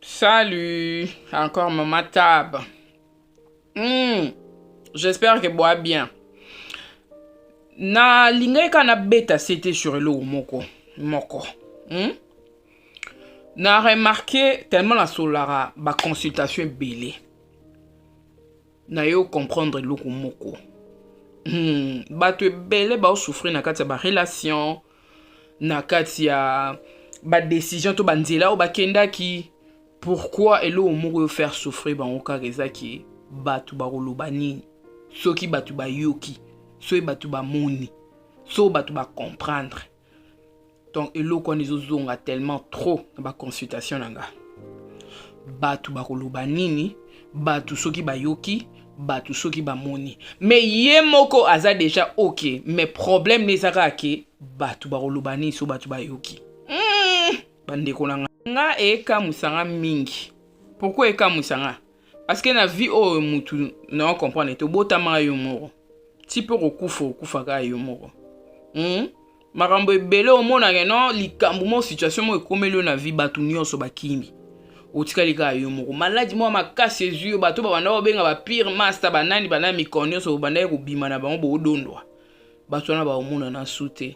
Salut, encore maman Tab. Hmm, j'espère que bois bien. Na lingaki ka na beta sete sur eloko moko moko. Hmm? Na remarqué tellement na solara ba consultation ebele. Na yo comprendre eloko moko. Hmm, bato ebele bao souffrir na kati ya ba relation na kati ya badecision to banzela oyo bakendaki pourkui eloko moko yo faire souffrir bango kaka eza ke bato bakoloba nini soki bato bayoki soki bato bamoni soki bato bacomprendre donc eloko wana ezozonga tellement trop na baconsultation na nga bato bakoloba nini bato soki bayoki bato soki bamoni me ye moko aza deja ok me problème ne eza kaka ke bato bakoloba nini so bato bayoki mm, bandeko na nga nga ekamwisa nga mingi pourkui ekamwisa nga parceke na vie oyo motu nao comprendre te obotamaka yo moko ti mpe kokufa okufaka yo moko mm? makambo ebele omona ke no likambo moko situation moko ekomeli yo na vie bato nyonso bakimi otikali kaka yo moko maladi moko makasi ezwi yo bato babanda kobenga bapire masta banani banani mikolo nyonso bobandaki kobima na bango boodondwa bato wana baomona na su te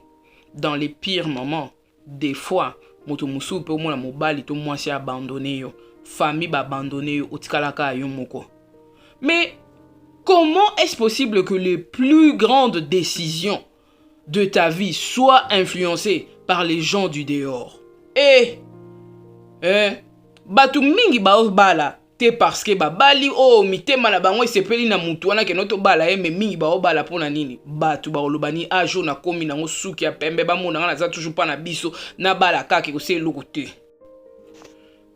dans les pire moment des fois moto mosusu mpe omona mobali to mwasi abandone yo famille baabandone yo otikala kaka yo moko mais comment est-ce possible que les plus grandes décisions de ta vie soit influencé par les gens du dehors eh eh bato mingi baobala te parce que babali oyo oh, mitema na bango esepeli na motu wana keno tobala ye eh, me mingi baobala mpo na nini bato bakoloba ni age oyo nakomi nango suki ya pembe bamona nga naza toujours mpa na biso nabala kaka ekosi eloko te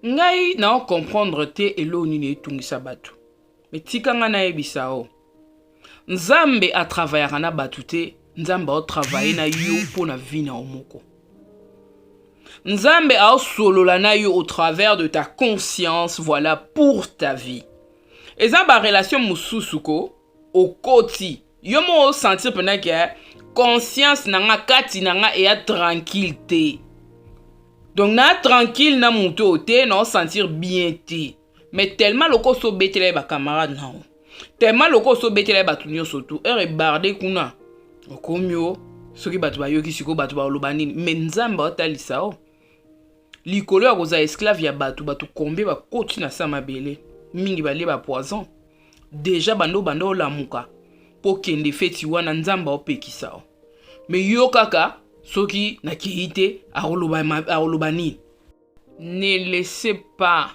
ngai nao comprendre te eloko nini etungisa bato me tika ngai nayebisa yo nzambe atravayaka na bato te nzambe aotravaye na yo mpo na vi na yo moko nzambe aosolola na yo au travers de ta conscience voilà pour ta vie eza barelation mosusu ko okoti yo moko osentir mpena ke eh, conscience na nga kati na nga eya tranquille te donc na tranquille na moto oyo te naosentir bien te mais tellement loko osi obetela ye bacamarade na yo tellement loko osi obetela ye bato nyonso tu heure ebarde kuna okomi o oh, soki bato bayoki sikoyo bato bakoloba nini me nzambe aotalisa o oh. likolo ya kozala esclave ya bato bato kombe bakoti na sa mabele mingi balie bapoison deja bando banda olamuka mpo kende feti wana nzambe aopekisa o me yo kaka soki nakei te akoloba nini Ne laissez pas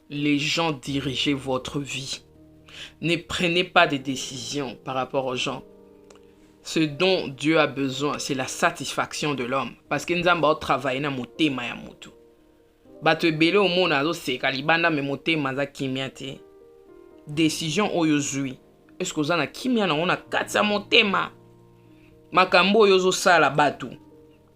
les gens diriger votre vie. Ne prenez pas des décisions par rapport aux gens. Ce dont Dieu a besoin, c'est la satisfaction de l'homme. Parce que nous avons travaillé dans motema ya mutu. Bato ebele omona azoseka libanda me motema aza kimia te. Décision oyo zui. Est-ce que oza na kimia na ona katsa motema? Makambo oyo ozosala bato.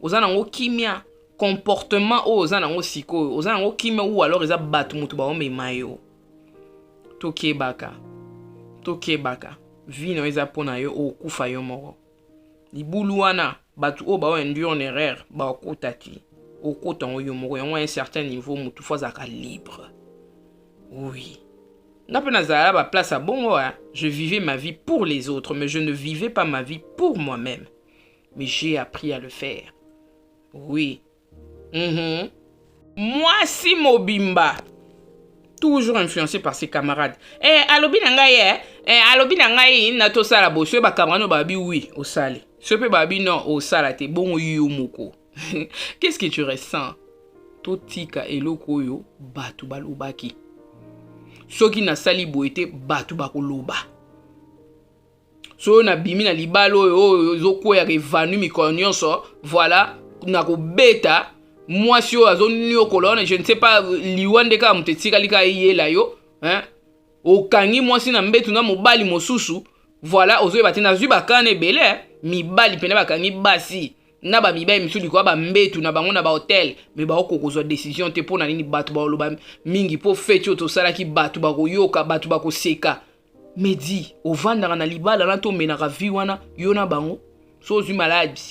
oza nango kimia comportement oyo oza nango sikoyo oza nango kimia ou alors eza bato moto baomema yo tokebaka tokebaka vi na yo eza mpo na yo okufa yo moko libulu wana bato oyo bao induire en erreur baokota te okota yango yo moko yango ya un certain niveau motu fo azalaka libre oui nga mpe nazalala baplace ya bongo je vivais ma vie pour les autres mais je ne vivais pas ma vie pour moi-même mais j'ai appris à le faire oui mm-hmm. mwasi mobimba toujours influencé par ses camarades eh, alobi na ngai eh, eh, alobi na ngai na tosala boye soki bacamarade babi oui osali soki mpe babi non osala te bongo yo moko qu'est-ce que tu ressens totika eloko oyo bato balobaki soki nasali boye te bato bakoloba soki nabimi na libala oyo oyo ezokweya revanu mikolo nyonso voilà nakobeta mwasi oyo azoniokola wana je ne sais pas liwa nde kaka moto etikali kaka eyela yo hein? okangi mwasi na mbetu na mobali mosusu voilà ozoyeba te nazwi bakana ebele eh? mibali mpena bakangi basi na bamibali misusu likoya bambetu na bango na bahotel me baokoka kozwa decision te mpo na nini bato baoloba mingi mpo feti oyo tosalaki bato bakoyoka bato bakoseka medi ovandaka na libala na to omenaka vi wana yo na bango so ozwi maladi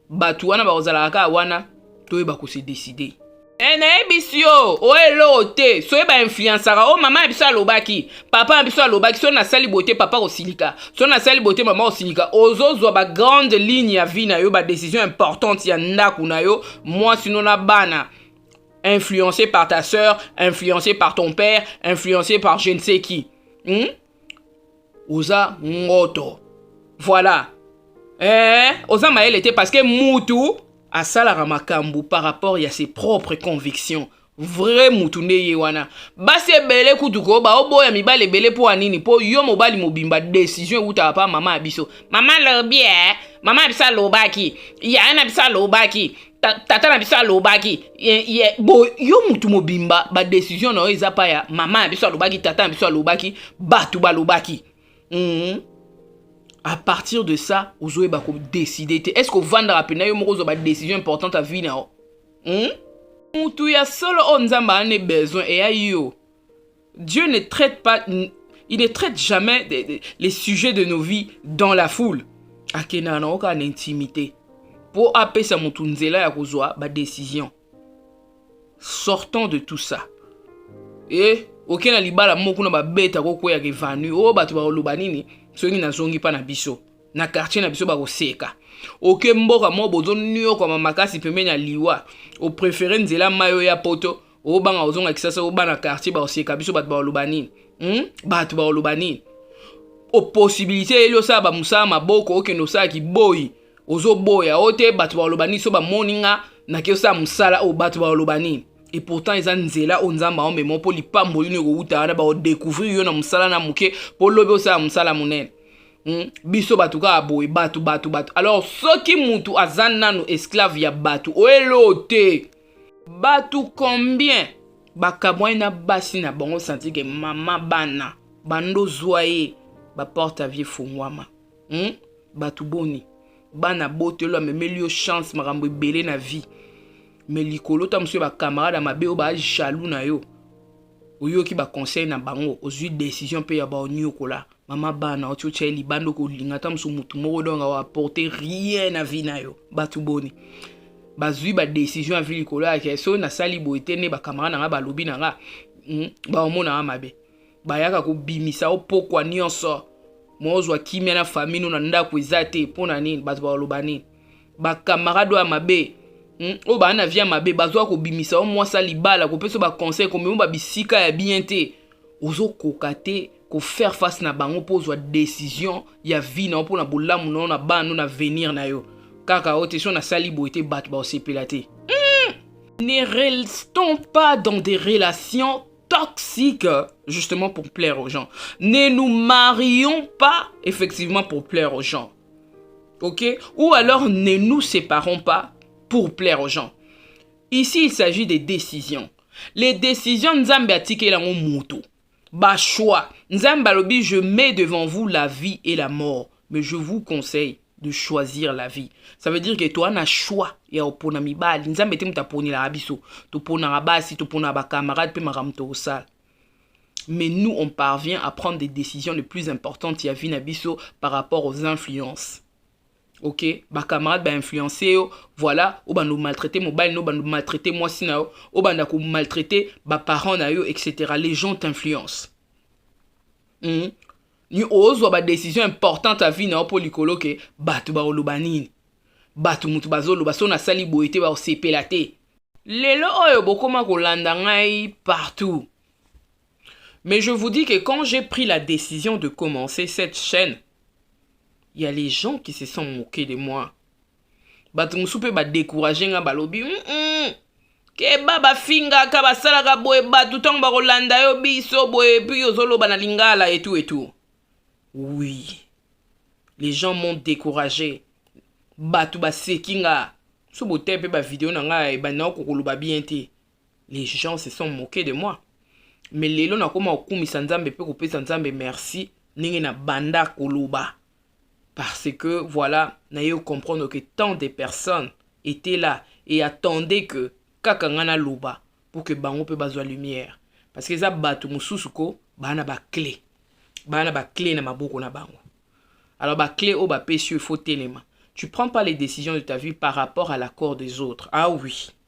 bato wana bakozalaka kaka wana toyeba kose deside e nayebisi yo oyo eloko te soki bainfluensaka oyo mama na biso alobaki papa na biso alobaki soki nasali boye te papa kosilika soki nasali boye te mama kosilika ozozwa bagrande ligne ya vie na yo badecision importante ya ndako na yo mwasi no na bana influencé par ta sœur, influencé par ton père, influencé par je ne sais qui. Hmm? Oza ngoto. Voilà. Eh, oza mael était parce que mutu a salara makambu par rapport à ses propres convictions. vrai mutu nde ye wana basi ebele kutu ko baoboya mibali ebele mpo ya nini mpo yo mobali mobimba decision eutaka mpa mama ya biso mama alobi e mama ya biso alobaki yaya na biso alobaki tata na biso alobaki bo yo mutu mobimba badecision na yo eza pa ya mama na biso alobaki tata na biso alobaki bato balobaki mm. à partir de ça ozoyeba kodeside te est ce que ovandaka mpena yo moko ozwa badecision importante ya vie na yo mm? mutu ya solo oyo nzambe aane besoin eya yo Dieu ne traite pas, il ne traite jamais des, des, les sujets de nos vies dans la foule. Akenda na oka na intimité. Po apesa mutu nzela ya kozwa ba décision. Sortons de tout ça. Et oke na libala moko na babeta kokwea ke vanu oyo oh, bato bakoloba nini soki nazongi mpa na biso na quartier na biso bakoseka oke mboka moko bozoniokwama makasi pembeni ya liwa oprefere nzela mai oyo ya poto obanga ozonga kisasa obana quartier baoseka biso bato baoloba nini hmm? bato baoloba nini oposibilité eyeli osala bamosala maboko okende osala kiboyi ozoboya o te bato baoloba nini so bamoni nga nake osala mosala oyo bato baoloba nini et pourtant eza nzela oyo nzambe aomema mpo lipamboli nini ekowuta wana baodecouvrir yo na mosala na moke mpo lobi osala mosala monene Hmm? biso bato kaka boye bato bato bato alors soki motu aza nano esclave ya bato oyo eloo te batu combien bakabwani na basi na bango santike mama bana bando zwa ye baporte avie fungwama hmm? bato boni bana botelo amemeli yo chance makambo ebele na vie me likolo ta mosusu bacamarade ya mabe oyo bajalou na yo oyoki baconseil na bango ozwi décision mpe ya baoniokola mama bana oti otya ye libanda okolinga ata mosusu motu moko donc aporte rien na vie na yo bato boni bazwi badecision ya vi likolo yake soki nasali boye te nde bakamara na ngai balobi na ngai hmm, baomonaka mabe bayaka kobimisa opokwa nyonso mwa ozwa kimia na famille no na ndako eza te mpo na nini bato bakoloba nini bakamarade oyo ya mabe hmm, oyo baa na vi ya mabe bazwa kobimisa o mwasi ya libala kopesa baconseil komema babisika ya bien te ozokoka te kofaire face na bango mpo ozwa décision ya vie na yo mpo na bolamu na yo na bana na avenir na yo kaka oyo te so nasali boye te bato baosepela te hmm! ne restons pas dans des relations toxiques justement pour plaire aux gens ne nous marions pas effectivement pour plaire aux gens ok ou alors ne nous séparons pas pour plaire aux gens ici il s'agit des décisions les décisions nzambe atikeli yango moto bachoix nzambe alobi je mets devant vous la vie et la mort mais je vous conseille de choisir la vie ça veut dire que toa na choix ya kopona mibali nzambe te moto aponelaka biso toponaka basi toponaka bacamarade mpe makambo tokosala mais nous on parvient à prendre des décisions les plus importantes ya vie na biso par rapport aux influences ok bacamarade bainfluence yo voilà obanda komaltraite mobali na obanda komaltraite mwasi na yo obanda komaltraite baparent na yo etc les gens t'influence mm. ozwa badécision importante ya vie na yo mpo likolo ke bato bakoloba nini bato moto bazoloba so nasali boye te bakosepela te lelo oyo bokoma kolanda ngai partout Mais je vous dis que quand j'ai pris la décision de commencer cette chaîne, il y a les gens qui se sont moqués de moi. bato mosusu mpe badécourage nga balobi mm -mm. keba bafingaka basalaka boye bato ntango bakolanda yo biso boye epi ozoloba na lingala etu etu oui les gens m'ont découragé bato baseki nga so botee mpe bavideo na ngai ebandaka kokoloba bien te les gens se sont moqués de moi mais lelo nakoma kokumisa nzambe mpe kopesa nzambe merci ndenge na banda koloba parce que voilà naye comprendre que tant de personnes étaient là et attendaient que kaka ngai naloba pour que bango mpe bazwa lumière parce que eza bato mosusu ko baa na baclé baa na baclé na maboko na bango alors baclé oyo bapesi yo ifo telema tu prends pas les décisions de ta vie par rapport à l'accord des autres ah oui